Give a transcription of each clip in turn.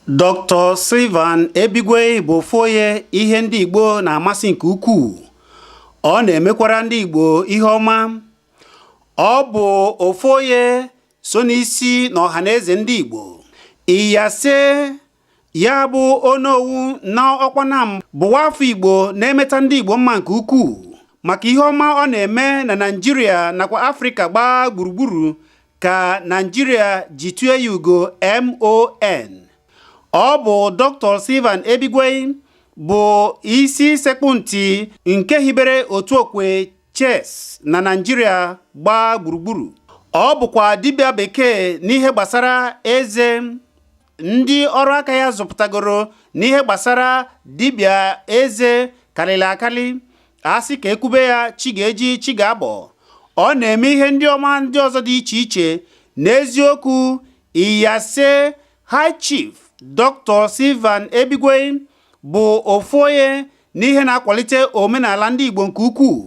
Dr. Sylvan Ebigwei bụ ofu onye ihe ndị Igbo na-amasị nke ukwuu ọ na-emekwara ndị Igbo ihe ọma ọ bụ ofu onye so n'isi na Ọhaneze ndị Igbo Iyase ya bụ onowu na Ọkpanam bụ nwa afọ igbo na-emeta ndị igbo mma nke ukwuu maka ihe ọma ọ na-eme na naijiria nakwa afrịka gbaa gburugburu ka naijiria ji tue ya ugo MON ọ bụ Dr. Sylvan Ebigwei bụ isi sekpụ ntị nke hibere otu okwe chess na naijiria gbaa gburugburu ọ bụkwa dibịa bekee n'ihe gbasara eze ndị ọrụ aka ya zụpụtagoro n'ihe gbasara dibịa eze karịrị akarị a sị ka e kwube ya chi ga-eji chi ga-abọ ọ na-eme ihe ndị ọma ndị ọzọ dị iche iche n'eziokwu iyase high chief Dr. Sylvan Ebigwei bụ ofu onye n'ihe na-akwalite omenala ndị Igbo nke ukwuu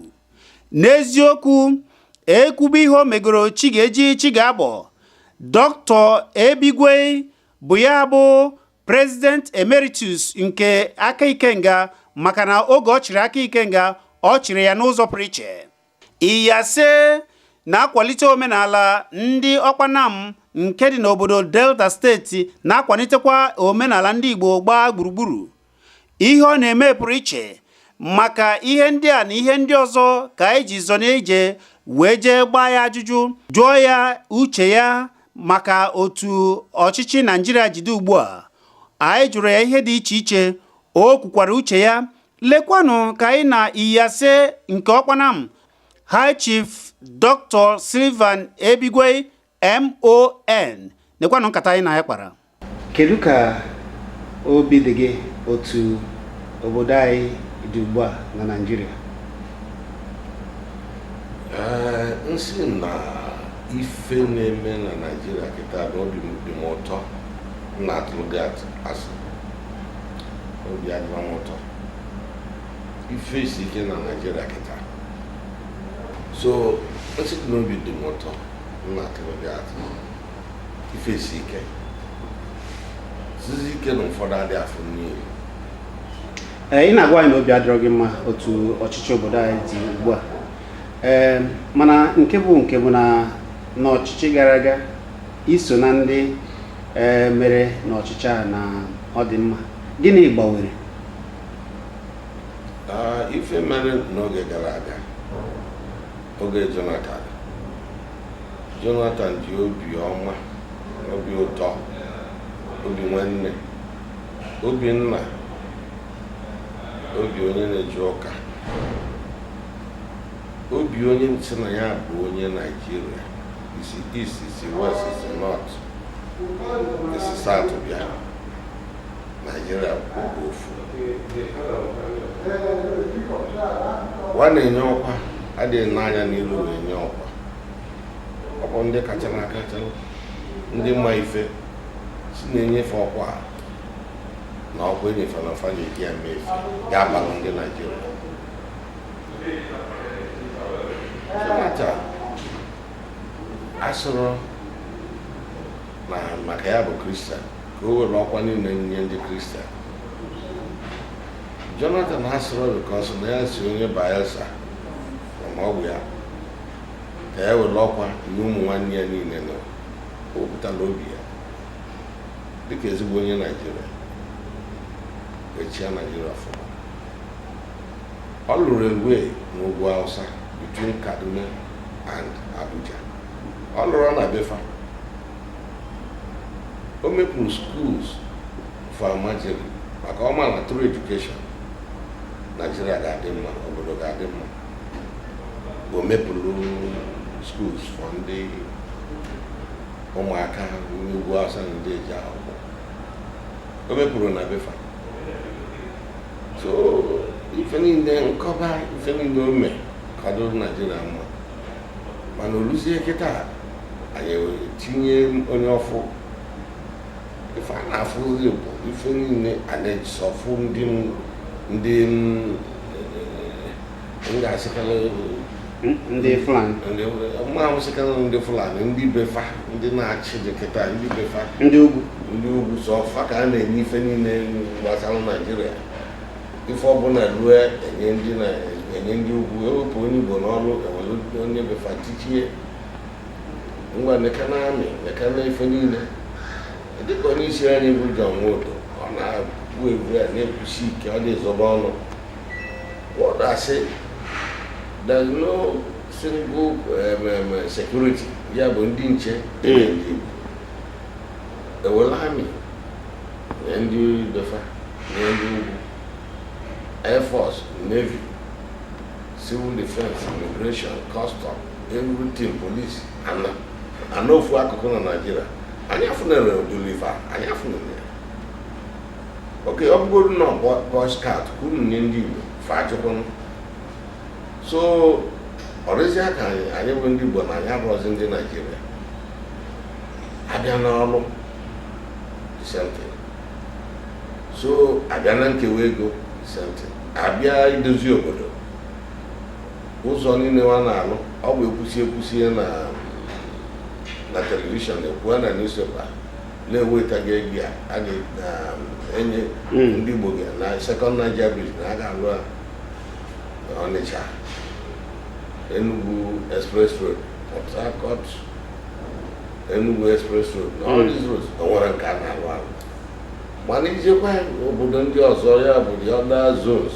n'eziokwu e kwube ihe o megoro chi ga-eji chi ga-abọ Dr. Ebigwei bụ ya bụ President Emeritus nke Aka Ikenga maka na oge ọ chịrị Aka Ikenga ọ chịrị ya n'ụzọ pụrụ iche Iyase na-akwalite omenala ndị Ọkpanam nke dị n'obodo Delta steeti na-akwalitekwa omenala ndị Igbo gbaa gburugburu. Ihe ọ na-eme pụrụ iche maka ihe ndị a na ihe ndị ọzọ ka anyị ji zọ n'ije wee jee gbaa ya ajụjụ jụọ ya uche ya maka otu ọchịchị Naijiria jide ugbu a. Anyị jụrụ ya ihe dị iche iche, o kwukwara uche ya lekwanụ ka anyị na iyase nke Ọkpanam High Chief Dr. Sylvan Ebigwei MON nekwanụ nkata anyị na ya kpara kedu ka obi dị gị otu obodo anyị dị ugbu a na Naịjirịa m sị na ife na-eme na Naịjirịa kịta na obi dị m ụtọ na-atụrụ gị asị obi adịrọ m ụtọ ife si ike na naijiria kịta so m sị na obi dị m ụtọ m na-atụrụ gị asị ife si ike sizi ike na ụfọdụ adị afụ nni ee ị na-agwa anyị na obi adịrọ gị mma otu ọchịchị obodo anyị dị ugbu a ee mana nke bụ nke bụ na n'ọchịchị gara aga iso na ndị e, mere n'ọchịchị a na ọ dị mma gịnị gbanwere ife mere n'oge gara aga oge Jonathan Jonathan ji obi ọma obi ụtọ obi nwanne obi nna obi onye na-eje ụka obi onye sị na ya bụ onye naijiria isi east isi west isi north isi south bịa naijiria bụ ofu wa na-enye ọkwa adịghị ene anya n'iru na-enye ọkwa ọ bụ ndị kacha na akacha ndị mma ife si na-enye fa ọkwa a na ọkwa enye fa na ọ fa na-eji ya mee ife ga-abalụ ndị naijiria Jonathan asịrọ na maka ya bụ kristian ka o were ọkwa niile nye ndị kristian jonathan asịrọ because na ya si onye bayelsa na nwa Ogbia ka ya were ọkwa nye ụmụ nwanne ya niile na o wepụtala obi ya dịka ezigbo onye naijiria wee chịa naijiria ọfụma Ọ lụrụ railway n'ugwu Hausa between Kaduna and Abuja. Ọ lụrụ na be fa. O mepụrụ schools for Almajiri maka ọ ma na through education Nigeria ga-adị mma, obodo ga-adị mma. O mepụrụ schools for ndị ụmụaka n'ugwu Hausa na-adịghị eje akwụkwọ. O mepụrụ na be fa. so ife niile m kọba ife niile o mee ka ọ dịrị naijiria mma mana o luzie kịta anyị wee tinye onye ọfụụ ife a na-afụzi bụ ife niile a na-esọfụ ndị m- ndị m, eh, ndị Fulani ndị Fulani ndị be fa ndị na-achị dị kịta ndị be fa ndị ugwu ndị ugwu sọ fa ka a na-enye ife niile gbasara Naijiria ife ọbụla ruo enye ndị na enye ndị ugwu ewepụ onye Igbo n'ọrụ ewere onye be fa tichie ngwa nekene army nekene ife niile dịka onye isi anyị bụ John Nwodo ọ na-abụ ebu ya na-ekwusi ike ọ dịghị ezo ọnụ What I say, there's no single um, um, uh, security. Ya bụ ndị nche dị. E welu army nye ndị be fa nye ndị ugwu. Air Force, Navy, Civil Defense, Immigration, Custom, everything, police, and a nọ na ofu akụkụ na Naịjirịa. Anyị afụnurọ ụdịrị ife a, anyị afụnurọ ya. okay ọ bụgodu na boy scout ka unu nye ndị igbo fa ajụkwarọ so ọ dịzịa ka anyị anyị bụ ndị igbo na anyị abụrọzi ndị naijiria a bịa n'ọlụ the same thing. so a bịa na nkewa ego the same thing. a bịa idozi obodo ụzọ niile wa na-alụ ọ bụ ekwusi ekwusi na na telivishọn ekwuo na newspaper na e wetago ego a ga-enye hmm. ndị Igbo gị na second Niger bridge na a ga-alụ Ọnịcha Enugu express road Port Harcourt Enugu express road na all these roads o nwere nke a na-alụ alụ mana i jekwa obodo ndị ọzọ ya bụ the other zones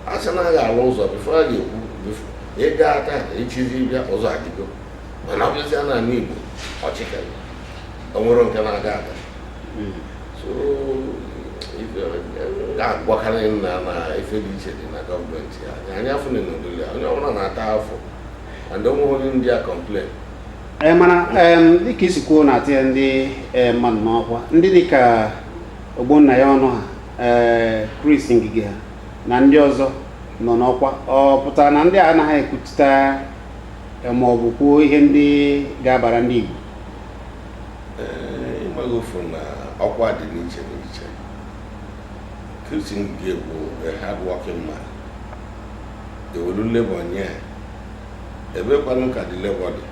a sị na a ga-alụ ụzọ before a ga-ekwu ị gaa taa echizi bịa ụzọ adịgo mana a bịazịa na ani Igbo ọchịkarị o nwerọ nke na-aga aga ga-agwakarị nna na ife dị iche dị na gọọmenti a anyị afụnurọ ụdịlị onye ọbụla na-ata afụfụ and o nweghị onye ndị a complain ee mana dịka i si kwuo na atịa ndị mmadụ n'ọkwa ndị dịka Ogbonnaya Onu ha ee Chris Ngige ha na ndị ọzọ nọ n'ọkwa ọ pụtara na ndị a anaghị ekwupụta eh, ma ọ bụ kwuo ihe ndị ga-abara ndị Igbo ị mago ofu na ọkwa dị n'iche n'iche Chris Ngige bụ a hard working man e welu labour nye ya ebe kwanụ ka the labour dị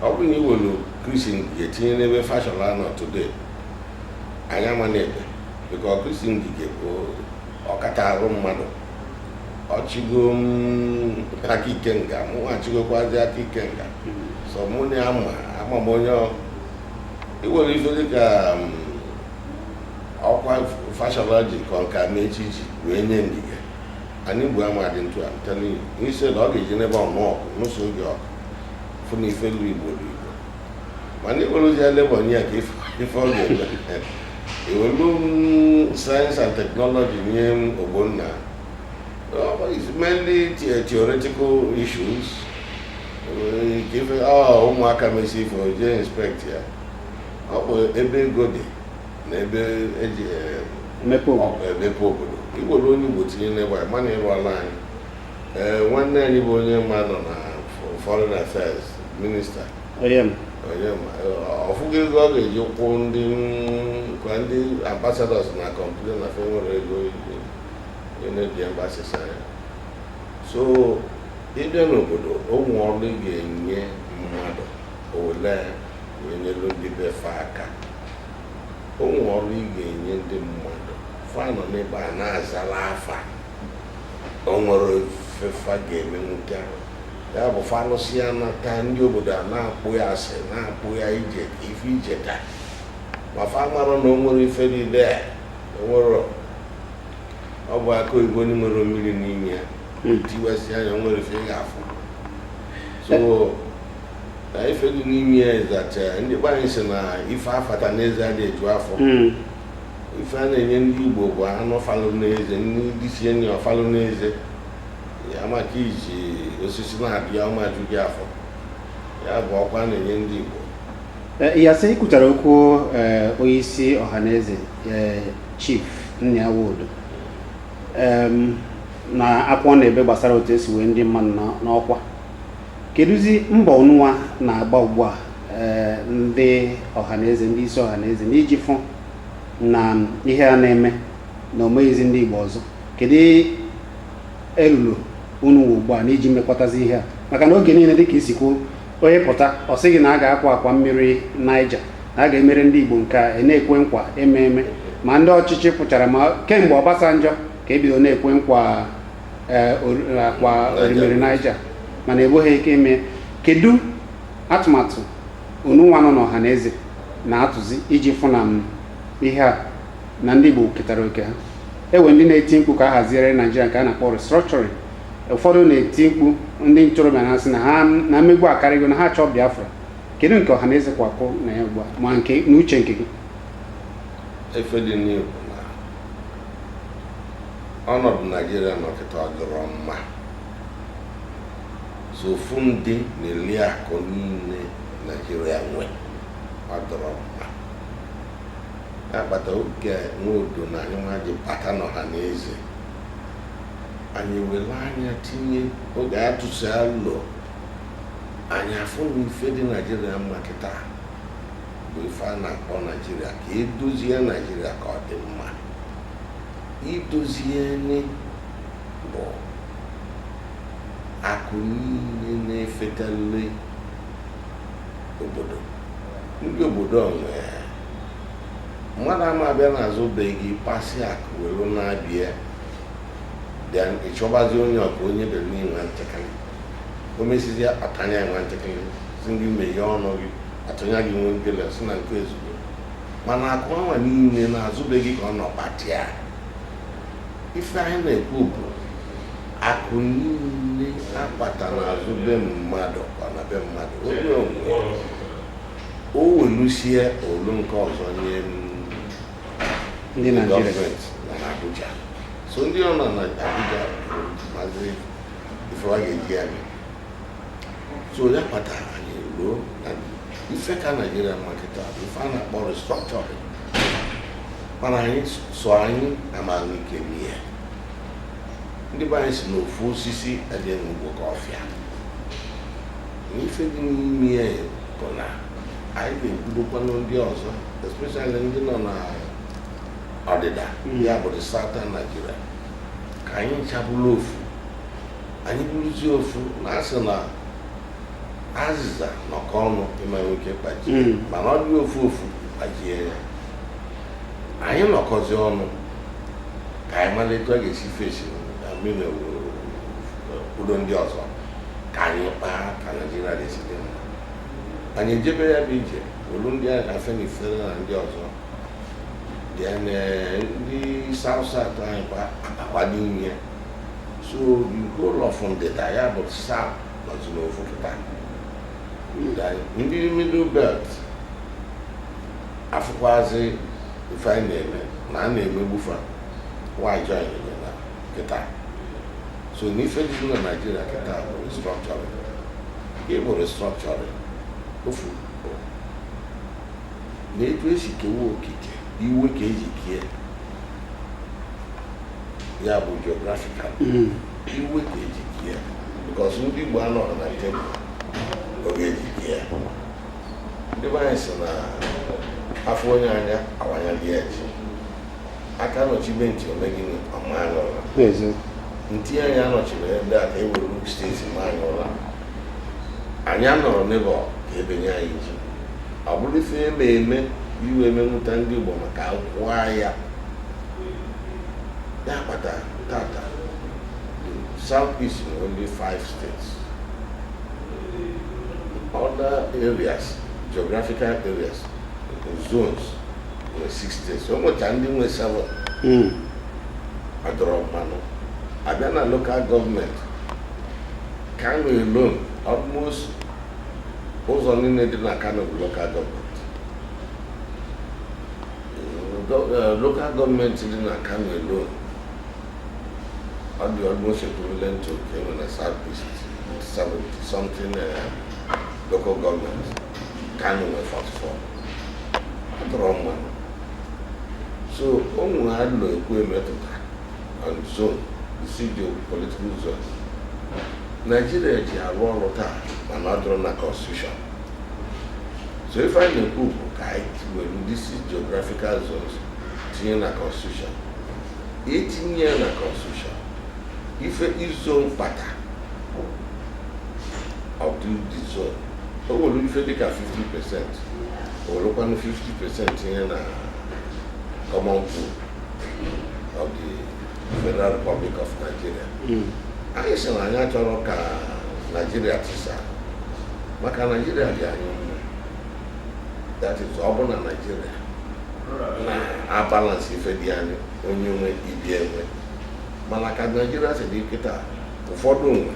ọ bụrụ na i welu Chris Ngige tinye n'ebe Fashola nọ today anya mana ebe because Chris Ngige bụ ọkacha arụ mmadụ ọ chịgo Aka Ikenga mụ achịgokwazi Aka Ikenga so mụ na ya ma ama m onye i were ife dịka ọkwa Fashola ji ka ọka ma echi ji wee nye Ngige ani Igbo ama adị etu a I'm telling you instead ọ ga-eji n'ebe ọnụ ọkụ n'ụsọ oge ọkụ fụ na ife lu igbo dị mana iweluzia Labour nye ya ka ife ife ọ ga-eme iwelu science and technology nye Ogbonna it's mainly the- theoretical issues Eh, ka ife ọ ụmụaka mesi ife o jee inspect ya ọ bụ ebe ego dị na ebe eji eh, emepe obodo iwelu onye Igbo tinye n'ebe a mana ịrụ ala anyị ee nwanne anyị bụ Onyeama nọ na foreign affairs minista Onyeama ọ fụgo ego ọ ga-eji kwụ ndị a ndị ambassadors na-complain na fa enwerọ ego eji enezi embassies anya so ịbịa n'obodo o nwe ọrụ ị ga-enye mmadụ o welu wee nyelu ndị be fa aka o nwe ọrụ ị ga-enye ndị mmadụ fa nọ n'ebe a na-azala afa o nwerọ ife fa ga-emenwuta ya bụ fa lụsịa nata ndị obodo a na-akpọ ya asị na-akpọ ya ije ife ije ka ma fa mara na o nwerọ ife dị ya o nwerọ ọ bụ akụ oyibo na-enwerọ mmiri n'ime ya hmm. tiwasịa ya o nwerọ ife ị ga-afụ so na ife dị n'ime ya ịzacha ndị be anyị sị na ife afata n'eze adị eju afọ hmm. ife a na-enye ndị Igbo bụ anụ falụ n'eze ndị lisie nni ọ falụ n'eze ya maka iji osisi na-afapụ ya ọ ma eju gị afọ ya bụ ọkwa a na-enye ndị Igbo eh, yes ikwutara okwu eh, onye isi ọhaneze eh, Chief Nnia Nwodo na akwa ọ na-ebe gbasara otu esi wee ndị mmadụ n'ọkwa kedụzi mbọ unuwa na-agba ugbu a eh, ndị ọhaneze ndị isi ọhaneze n'iji fụ na ihe a na-eme na omeghịzi ndị Igbo ọzọ kedu elulu unu nwe ugbu a n'iji mekwatazi ihe a maka na oge niile dịka i si kwuo onye pụta ọ sị gị na a ga-akwa akwa mmiri Niger na a ga-emere ndị Igbo nke a a na-ekwe nkwa eme eme ma ndị ọchịchị pụchara ma kemgbe Obasanjọ ka ebido na-ekwe nkwa ee, or- akwa orimiri Niger mana egboghị ike ime kedu atụmatụ unuwa nọ n'ọhaneze na-atụzi iji fụ na m ihe a na ndị Igbo ketara oke ha e nwe ndị na-eti mkpu ka a haziere Naijiria nke a na-akpọ restructuring ụfọdụ na-eti mkpu ndị ntorobịa na-asị na ha na mmegbu akarịgo na ha chọọ Biafra kedu nke ọhaneze kwakwụ na ya ugbu a ma nke n'uche nke gị ife dị n'igbo ọnọdụ naijiria nọ kịta ọ dịrọ mma so ofu ndị na-eli akụ niile naijiria nwe ọ dịrọ mma ya kpata oge Nwodo na anyị nwa ji bata n'Ọhanaeze anyị were anya tinye oge a tụsịa alo anyị afụ na ife dị naijiria mma kịta bụ ife a na-akpọ naijiria ka e dozie naijiria ka ọ dị mma idozieni bụ akụ niile na-efetalị obodo ndị obodo a nwe ya. mmadụ ama abịa n'azụ be gị kpasịa akụ welu na-abịa then ị chọbazi onye ọ ka onye bere nye i nwa nchịkịlị o mesizia a tanye i nwa nchịkịlị si gị meghee ọnụ gị a tụnye gị nwa nkele si na nke a ezugo mana akụ anwa niile n'azụ be gị ka ọ nọ kpata ya ife anyị na-ekwu bụ akụ niile a kpata n'azụ be mmadụ ọ na be mmadụ onye nwe o welusie olu nke ọzọ nye ndị gọọmenti na Abuja so ndị ọ nọ na Abuja mazi ife fa ga-eji ya mee so ya kpatara anyị eloo na ife ka naijiria mma kịta bụ ife a na-akpọ restructuring mana anyị sọ anyị ama enwe ike mee ndị be anyị si n'ofu osisi adị abụ oke ọfịa na ife dị n'ime ya bụ na anyị ga-ekwudokwanụ ndị ọzọ especially ndị nọ na ọdịda ya bụ the southern Nigeria ka anyị ncha bụlụ ofu anyị bụrụzie ofu na a sị na azịza nọkọọ ọnụ ị ma nwe ike kpajie Mm. mana ọ dị ofu ofu kpajie ya anyị nọkọzi ọnụ ka anyị mara etu a ga-esi fesi mmiri kwudo ndị ọzọ ka anyị kpaa ka naijiria ga-esi dị mma anyị ejebe ya bụ ije olu ndị a na-akpọ Afenifere na ndị ọzọ then eh, ndị south south anyị kwa abakwa dị n'ime so the whole of ndịda ya bụ south nọzi n'ofu kịta ndị middle belt afụkwazi ife anyị na-eme na a na-emegbu fa wa join anyị kịta so n'ife dị na naijiria kịta bụ restructuring nke bụ restructuring ofu na etu e si kewa okike iwe ka e ji kee ya bụ geographical hmm. iwe ka e ji ke ya because ndị Igbo anọghị na tebụl oge e ji ke ya ndị be anyị sị na afọ onye anya awanya dị ya ji aka nọchibe ntị ome gịnị ọ ma anyị ụra ntị anyị anọchiri ndị a ka e were steeti ma anyị ụra anyị anọrọ n'ebe ka e benye anyị ji ọ bụrụ ife eme eme iwe emenwụta ndị Igbo maka akwụkwọ ahịa ya kpata tata south east nwere only five states other areas geographical areas zones nwere six states o nwecha ndị nwe seven hmm. ọ dịrọ mma nụ a bịa na local gọọmenti Kano alone almost ụzọ niile dị na Kano bụ local gọọmenti Eh, local gọọmenti dị na Kano alone ọ dị almost equivalent to nke nọ na South East 70 something eh, local government Kano nwe 44 ọ dịrọ mma nụ so o nwere alo e kwue metụta on zone isii geopolitical zone Nigeria ji arụ ọrụ taa mana ọ dịrọ na constitution so ife anyị na-ekwu bụ ka anyị tiwere these geographical zones tinye na constitution e tinye ya na constitution ife zone kpata of the the zone o were ife dịka 50 percent o werekwanụ 50 percent tinye na common pool of the Federal Republic of Nigeria hmm. anyị sị na anyị achọrọ ka Naijiria tisa maka Naijiria dị anyị mma that is ọ bụ na Naijiria na-abalansị ife dị ya onye nwe ibe ya enwe mana ka Naijiria si dị kịta ụfọdụ nwe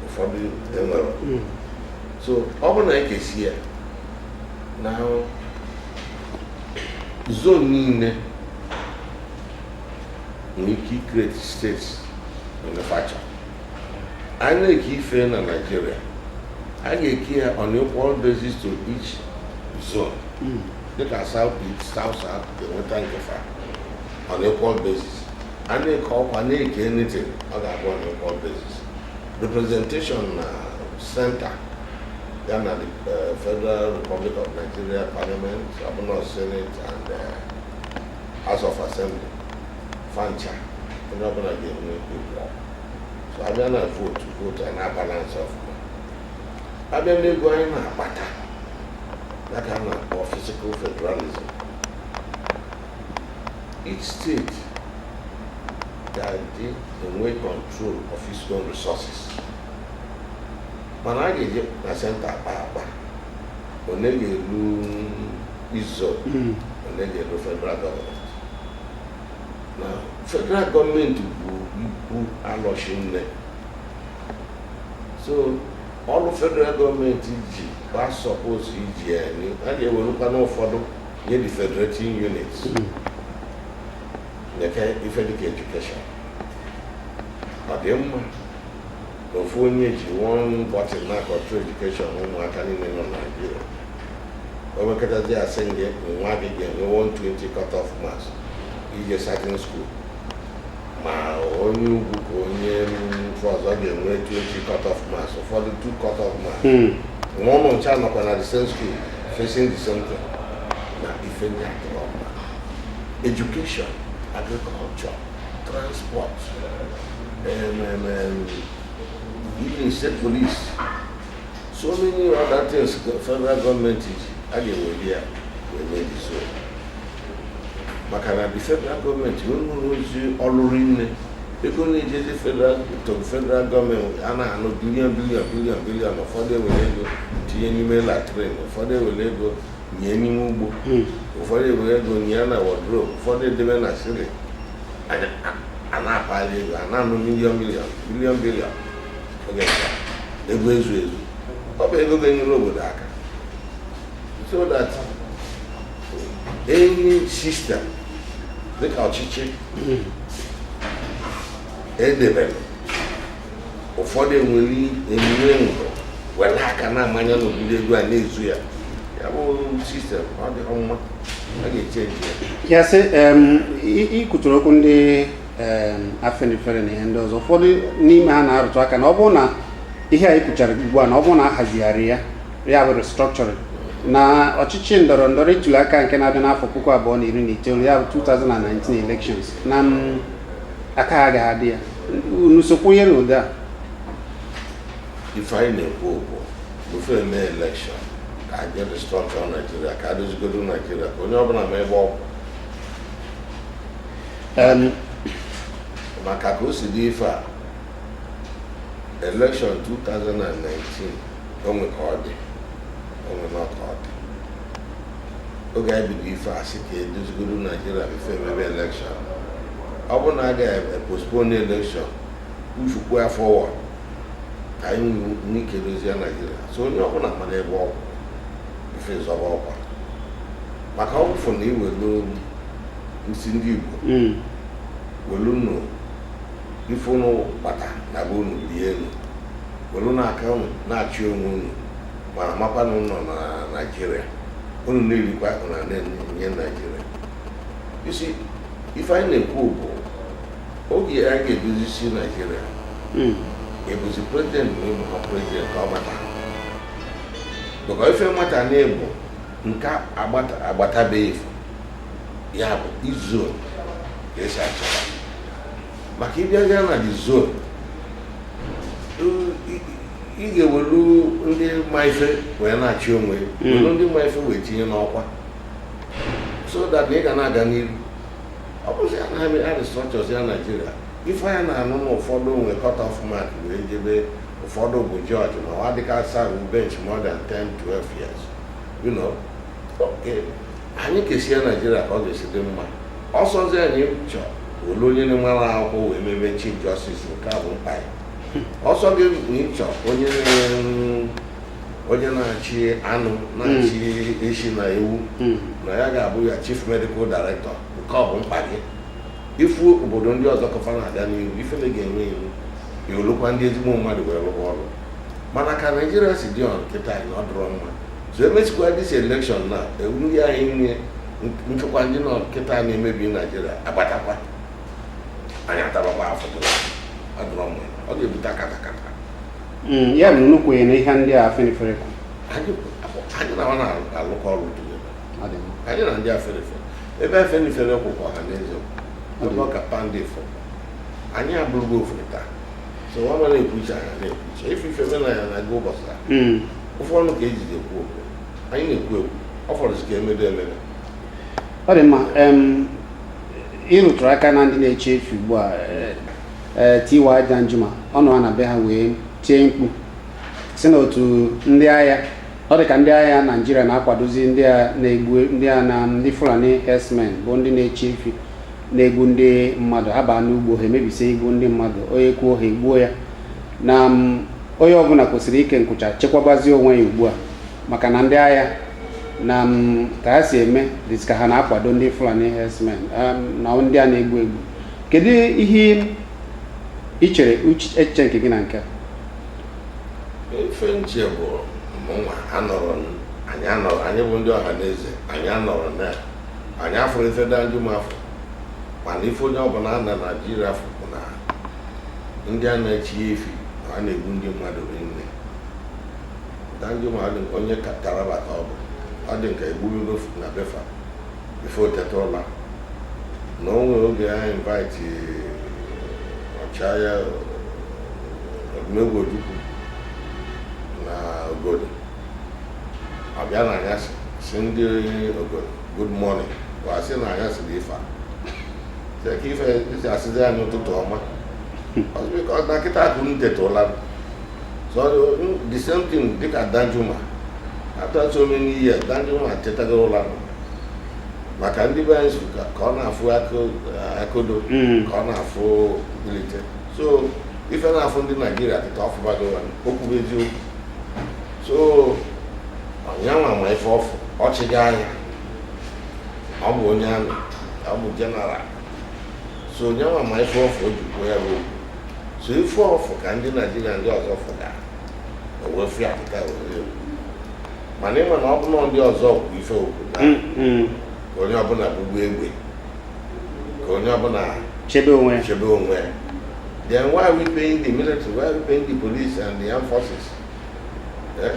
ụfọdụ enwerọ hmm. so ọ bụ na e kesị ya na zone niile nwere ike ikreti steeti manufacture a na-eke ife na naijiria a ga-eke ya on equal basis to each zone dịka south east south south ga-enweta nke fa on equal basis a na-eke ọkwa na-eke anything ọ ga-abụ on equal basis representation na center ya na the eh, federal republic of nigeria parliament ọbụna senate and eh, House of Assembly fa ncha onye ọbụla ga-enwe equal so abịa na vootu vootu a na-abalansị ọfụma abịa n'ego anyị na-akpata ya ka a na-akpọ fiscal federalism each state ga-adị enwe control of its own resources mana a ga-eji na senta akpa akpa one ga-elu izo hmm. one ga-elu federal gọọmenti na federal gọọmenti bu ibu alọ shinne so ọlụ federal gọọmenti ji ba suppose iji ya a ga-ewerụkwanụ ụfọdụ nye the federating units hmm. nekwa ife dịka edukeshọn ọ dị mma ofu onye ji one bọtịn na-acontrol edukeshọn ụmụaka niile nọ na Naịjirịa o wekọtazi a sị gị nwa gị ga-enwe 120 cutoff marks ije certain school ma onye ugwu ka onye ebe ọzọ ga-enwe 20 cutoff marks ụfọdụ 2 cutoff marks hmm. ma unu ncha nọkwa na the same school facing the same thing na ife ndị a education agriculture transport, um, um, um, even state police, so many other things the federal government ji a ga-eweli ya emeli so maka na the federal government nwere ozi ọlụ rinne ego na-ejezi to federal gọọmenti a na-anụ bilion bilion bilion bilion ụfọdụ ewere ego tinye n'ime latrin ụfọdụ ewere ego nye n'ime ugbo hmm. ụfọdụ ewere ego nye na wọdrobu ụfọdụ edebe na ceiling a na-akpali ego a na-anụ miliọn miliọn biliọn biliọn oke ego ezu ezu ọ bụ ego ga-enyere obodo aka so that any system dịka ọchịchị edebere ụfọdụ enwere emume ngọ were aka na-amanye n'obele ego a na-ezu ya ya bụ sistem adịhọ mma a ga-echenji ya yes i kwuturu okwu ndị afenifere na ihe ndị ọzọ ụfọdụ n'ime ha na-arụtụ aka na ọ bụrụ na ihe a i kwuchara ugbu a na ọ bụrụ na ahazigharịghị ya ya bụ restructuring na ọchịchị ndọrọ ndọrọ ịtụli aka nke na-abịa n'afọ puku abụọ na iri na itoolu ya bụ 2019 elections na aka ha agaghị adị ya unu so kwenye n'ụdị a ife anyị na-ekwu okwu before eme elekshọn ka anyị jee restrọktọ naijiria ka adozigodo naijiria ka onye ọbụla ma ebe ọ kwụ maka ka o si dị ife a elekshọn 2019 o nwe ka ọ dị o nwenụ ka ọ dị oge anyị bido ife a sị ka edozigoro naijiria before emebe elekshọn ọ bụrụ na a ga-epospone elekshọn uchukwu ya forward ka anyị nwee ike dozie naijiria so onye ọbụla mara ebe ọ kwụ before ịzọba ọkwa maka ọ bụ ịfụ na iwelu sị ndị igbo Mm. welu nụ ife unu kpata na be unu rie nụ welu nụ aka unu na-achị onwe unu ma makwa na unu nọ na naijiria unu na-erikwa akụ na na-enye naijiria isi ife anyị na-ekwu bụ oge a ga-edozisi naijiria hmm. ebuzi prezident na ịbụ ha prezident ka ọ gbata maka ife nwata na-egbo nke agbatabeghị ya bụ zone ka esi achọta maka ịbịazie na the zone ị ga-ewelu ndị ma ife wee na-achị onwe hmm. welu ndị ma ife wee tinye n'ọkwa so that ị ga na-aga n'iru ọ bụzi ya na a restructuresịa naijiria ife anyị na-anụ na ụfọdụ nwe cut off mark wee jebe ụfọdụ bụ judge ma ọ dịka serve bench more than 10 12 years you know anyị kesie naijiria ka ọ ga-esi dị mma ọ sọzi na ị chọlụ onye na-enwerọ akwụkwọ wee mebe chief justice nke a bụ mkpa gị ọ sọ gị na ị chọ onye na- onye na-achị anụ na-achị eshi na ewu na ya ga-abụ ya chief medical director nke ọ bụ mkpa gị ị fụ obodo ndị ọzọ ka fa na-aga n'ihu ifele ga-eme gị i welụkwa ndị ezigbo mmadụ wee rụwa ọrụ mana ka naijiria si dị ọnụ kịta anyị na ọ dịrọ mma so emesikwa this elekshọn na ndị anyị nwe nchekwa ndị nọ kịta na-emebi naijiria abatakwa anyị atabakwa afụfụ ọ dịrọ mma ọ ga-ebute katakata hmm, ya na nnukwu na ihe ndị afenifere kwu anyị na na-alụkọ ọrụ anyị na ndị afenifere ebe afenifere kwụ ka ọhanaeze nọ ka pandef nọ anyị abụrụgo ofu taa so nwa mara ekwucha ya na-ekwucha ife ife mena ya na-aga ụbọchị a hmm. ofu ọnụ ka eji ekwu okwu anyị na-ekwu ekwu ọ fọrọzi ka emedo emere ọ dị mma ị rụtụrụ aka na ndị na-eche efi ugbu a eh, eh, T.Y. Danjuma ọ nọ na be ha wee tie mkpu si na otu ndị agha ọ dị ka ndị agha naijiria na-akwadozi ndị a na-egbu ndị a na ndị fulani herdsmen bụ ndị na-eche efi na-egbu ndị mmadụ ha baa n'ugbo ha emebisie igbu ndị mmadụ onye kwuo ha egbuo ya na onye ọbụla kwesịrị ike nkwụcha chekwabazie onwe ya ugbu a maka na ndị agha na ka ha si eme dịzi ka ha na-akwado ndị Fulani herdsmen na ndị a na-egbu egbu kedu ihe ị chere echiche nke gị na nke a ife m che bụ mụnwa anọrọ anyị anọrọ anyị bụ ndị ọha na eze anyị anọrọ na anyị afụrọ ife danjuma fụ mana ife onye ọbụla na naijiria fụ bụ na ndị a na-achị efi na a na-egbu ndị mmadụ rinne danjuma dị ka onye ka- taraba ka ọ bụ ọ dị ka egburugo na be fa before o teta ụla na o nwere oge a invite ọchịagha odumegwu ojukwu na obodo ọ bịa na anyasị sị ndị obodo good morning wa asị na anyasị ife a ka ife esi asịzi anyị ụtụtụ ọma ọ sị na kịta ka unu teta ụla so the same thing dịka danjuma after so many years danjuma tetago ụla maka ndị be anyị ka ọ na-afụ akodo ka ọ na-afụ mbilite so ife na-afụ ndị naijiria kịta ọ fụbago okwu bụ eziokwu so ọ nyanwa ma ife ọ fụ ọchịagha ọ bụ onye amị ọ bụ jeneral so ọ nyanwa ma ife ọ fụ o ji kwuo ya bụ okwu so ife ọ fụ ka ndị naijiria ndị ọzọ fụga wee fụ ya pụta wee kwuo mana ị ma na ọ bụ na ndị ọzọ kwu ife o kwu na ka onye ọbụla bulu egbe ka onye ọbụla chebe onwe ya then why are we paying the military why are we paying the police and the armed forces Eh?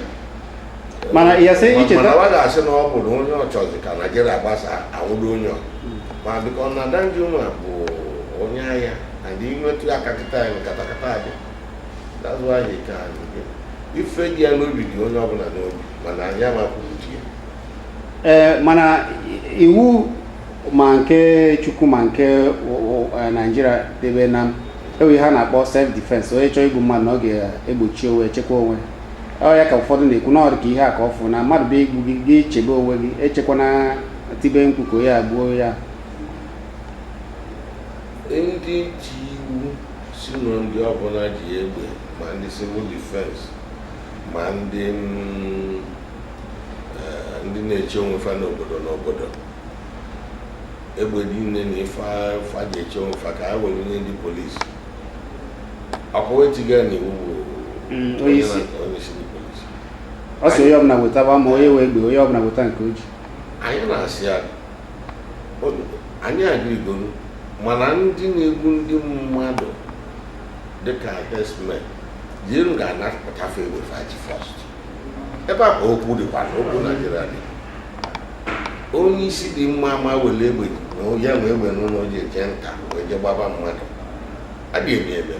mana ya sị icheta mana wa ga-asị na ọ bụ na onye ọ chọzi ka naijiria gbasa anwụdo onye ọ ma because na danjuma bụ onye agha and i metụ ya aka kịta katakata adị that's why o ji ka ife dị ya n'obi dị onye ọbụla n'obi mana anyị ama ekwute ya ee mana iwu ma nke chukwu ma nke e, naijiria debe na e nwe ihe a na-akpọ self defense onye chọọ igbu mmadụ na ọ ga-egbochi onwe chekwa onwe ọ ya ka ụfọdụ na-ekwu na ọ dị ka ihe a ka ọ fụ na mmadụ bịa igbu gị gị chebe onwe gị echekwana tibe mkpu ka onye a gbuo ya ndị ji iwu sị na ndị ọbụla ji egbe ma ndị civil defense ma ndị mm, eh, ndị na-eche onwe fa n'obodo n'obodo egbe niile na ife fa ji eche onwe fa ka ha were nye ndị polisi ọ kwa etiga na iwu bụ Mm, onye isi onye isi ndị polisi ọ sị onye ọbụla wetaba ma onye nwee egbe onye ọbụla weta nke o ji anyị na-asị ya o- anyị agreegoro mana ndị na-egbu ndị mmadụ dịka herdsmen jeenu ga-anapụta fa egbe fa ji first ebe a ka okwu dịkwa na okwu naijiria dị onye isi dị mma ama were egbe onye nwe egbe n'ụlọ ji eje nta wee je gbaba mmadụ adị eme ebe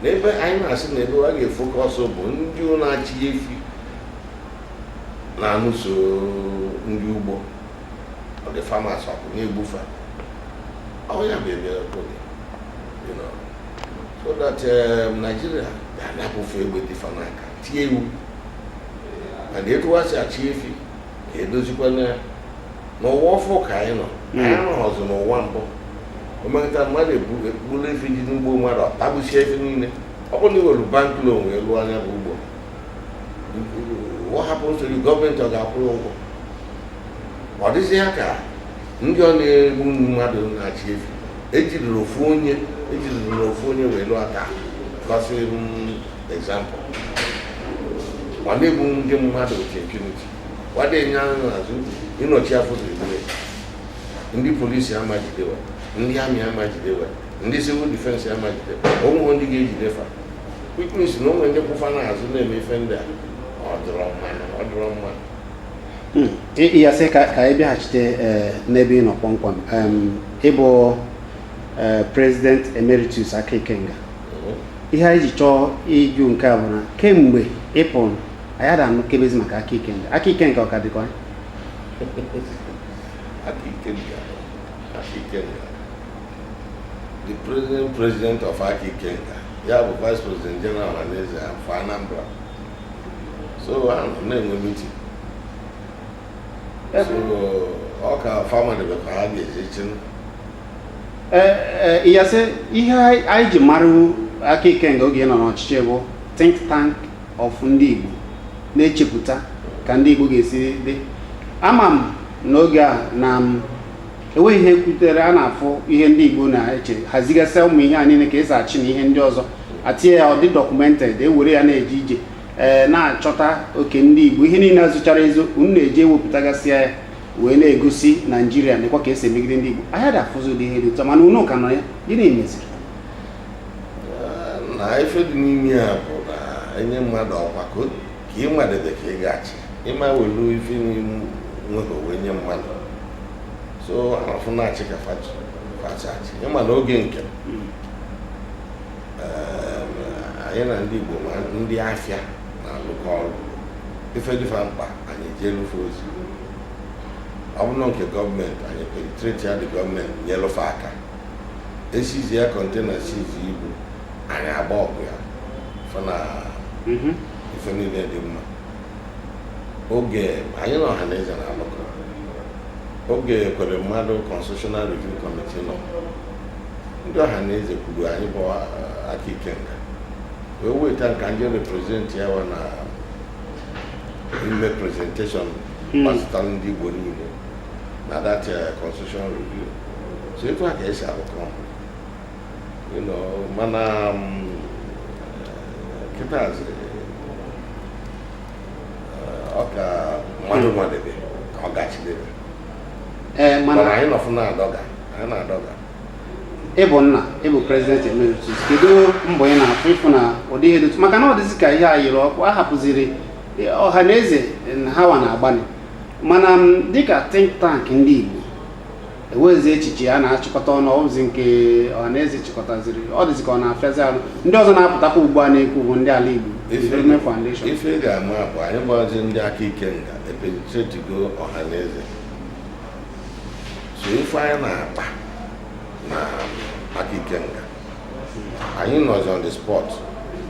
n'ebe anyị na-asị na ebe a ga-efocus bụ ndị ahụ na-achị efi na-anụso ndị ugbo ndị farmers ọgụ na-egbu fa ọ ya bụ ebe okwu dị so that um, Nigeria ga-anapụ fa egbe dị fa n'aka tie iwu and etu wa si achị efi ka edozikwa na ya n'ụwa ọfụụ ka anyị nọ anyị anọghọzi n'ụwa mbụ o mekata mmadụ ebu- egburu efi dị n'ugbo mmadụ ọ tagbusie ife niile ọ bụrụ na i were bank loan wee lụọ nya bụ ugbo what happens ọ bụ gọọmenti ọ ga-akwụ ụgwọ ọ dịzị ya ka ndị ahụ na-egbu mmadụ na-achị efi ejiderọ ofu onye ejiderọ ofu onye wee lụọ aka gosi example wa na-egbu ndị mmadụ with impunity wa ada ene anya n'azụ ịnọchi afọ ziribere ndị polisi ama jide wa ndị army ama jide wa ndị civil defense ama jide wa o nwe ndị ga-ejide fa which means na o nwe ndị kwụ fa n'azụ na-eme ife ndị a ọ dịrọ mma ọ dịrọ mma yes sir ka ka anyị bịaghachite eh, n'ebe ị nọ kpọmkwem Em, ị bụ eh, president emeritus aka ikenga ihe anyị ji chọọ ịjụ nke a bụ na kemgbe ị pụrụ anyị ada anụkebezi maka aka ikenga aka ikenga ọ ka dịkwa aka ikenga dị ya aka ikenga dị ya the president president of aka ikenga bụ vice president general Ọhaneze for Anambra so na-enwe meeting so ọ ka famili bụ ka ha ga-ejechi yes sir ihe anyị ji mara aka ikenga oge ị nọ n'ọchịchị bụ think tank of ndị Igbo na-echepụta ka ndị Igbo ga-esi dị ama m n'oge a na m enweghị ihe kwutere a na-afụ ihe ndị Igbo na-eche hazigasịa ụmụ ihe a niile ka esi achị na ihe ndị ọzọ atinye ya ọ dị documented ewere ya na-eje ije ee na-achọta oke ndị Igbo ihe niile a zochara ezo unu na-eji ewepụtagasịa ya wee na-egosi Naijiria nekwa ka esi emegide ndị Igbo anyị adị afụzi ụdị ihe dị otu a mana unu ka nọ ya gịnị meziri na ife dị n'ime ya bụ na enye mmadụ ọkwa ka o ka ị nwadebe ka ị ga-achị ị ma welu ife ị nweghị wee nye mmadụ so anafụ na-achị ka fa si achị ị ma na oge nke hmm. eh, anyị na ndị Igbo ma ndị afịa na-alụkọ ọrụ ife dị fa mkpa anyị jeelụ fa ozi ọ bụrụ nke gọọmenti anyị penetretia the gọọmenti nyelụ fa aka e sizia kọntena sizi ibu anyị agba ọkụ ya fụ na Mhm. ife niile dị mma oge anyị na Ọhaneze na-alụkọ oge Ekweremadu constitutional review committee nọ ndị Ọhaneze kwuru anyị bụ ah, Aka Ikenga wee weta m ka m je represent ya wa na ime presentation Hmm. gbasara ndị igbo niile na that uh, constitutional review so etu a ka e si alụkọ you know mana um, kịtazi uh, ọ ka mmadụ nwadebe ka ọ ga-achịdebe ee mana mana anyị nọfụ na-adọga anyị na-adọga ị bụ nna ị bụ president emeritus kedu mbọ ị na-afụ ịfụ na ụdị ihe dị otu maka na ọ dịzi ka ihe a yiri ọkụ a hapụziri Ọhaneze na ha wa na-agbalị mana dịka think tank ndị Igbo enwezi echiche a na-achịkọta ọnụ ọ bụzi nke ọhanaeze chịkọtaziri ọ dịzị ka ọ na-afịazi arụ ndị ọzọ na-apụtakwa ugbu a na-ekwu bụ ndị Alaigbo Development Foundation ife ị ga-ama bụ anyị gbazi ndị Aka Ikenga epenetretigo ọhanaeze so ife anyị na-akpa na Aka Ikenga anyị nọzi on the spot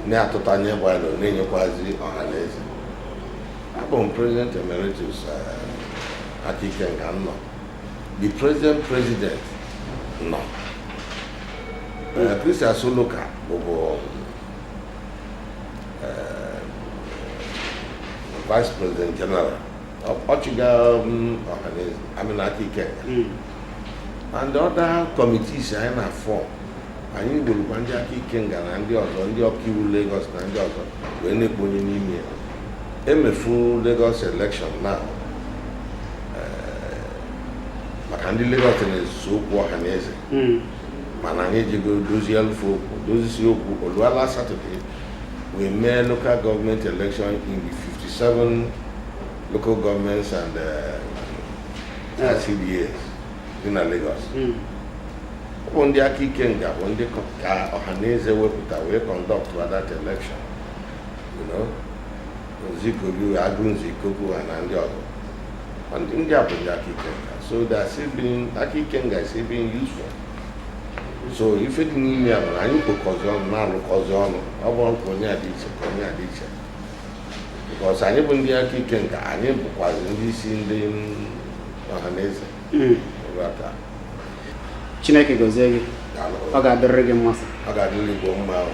na-atụta nye gbalụ na-enyekwazi ọhanaeze Abụ m President Emeritus eh, Aka Ikenga nọ. The President President nọ. Eh, Chris Asoluka bụbu eh, Vice President General. Ọ- Ọ chịga mm, Ọhaneze, I mean Aka Ikenga. and the other committees anyị na-afọm anyị burukwa ndị Aka Ikenga na ndị ọzọ ndị ọkaiwu Lagos na ndị ọzọ wee na-ekponye n'ime ya e mefu Lagos election na eh, maka ndị Lagos na-ezuso okwu Ọhaneze hmm. mana anyị ejego dozielụ fa okwu dozisi okwu o lua last Saturday wee mee local government election in the 57 local governments and uh, LCDA dị na Lagos hmm. ọ bụ ndị Aka Ikenga bụ ndị ka Ọhaneze wepụta wee conduct that election Nzikobi Agụnze Ikoku ha na ndị ọzọ ndị a bụ ndị Aka Ikenga so Aka Ikenga is being useful so ife dị n'ime ya bụ na anyị kpokọzi ọnụ na-alụkọzi ọnụ ọ bụrọ ka onye a dị iche ka onye a dị iche because anyị bụ ndị aka ikenga anyị bụkwazi ndị isi ndị ọha na eze hmm. chineke gozie gị ọ ga-adịrịrị gị mma sir ọ ga-adịrị igbo mma ahụ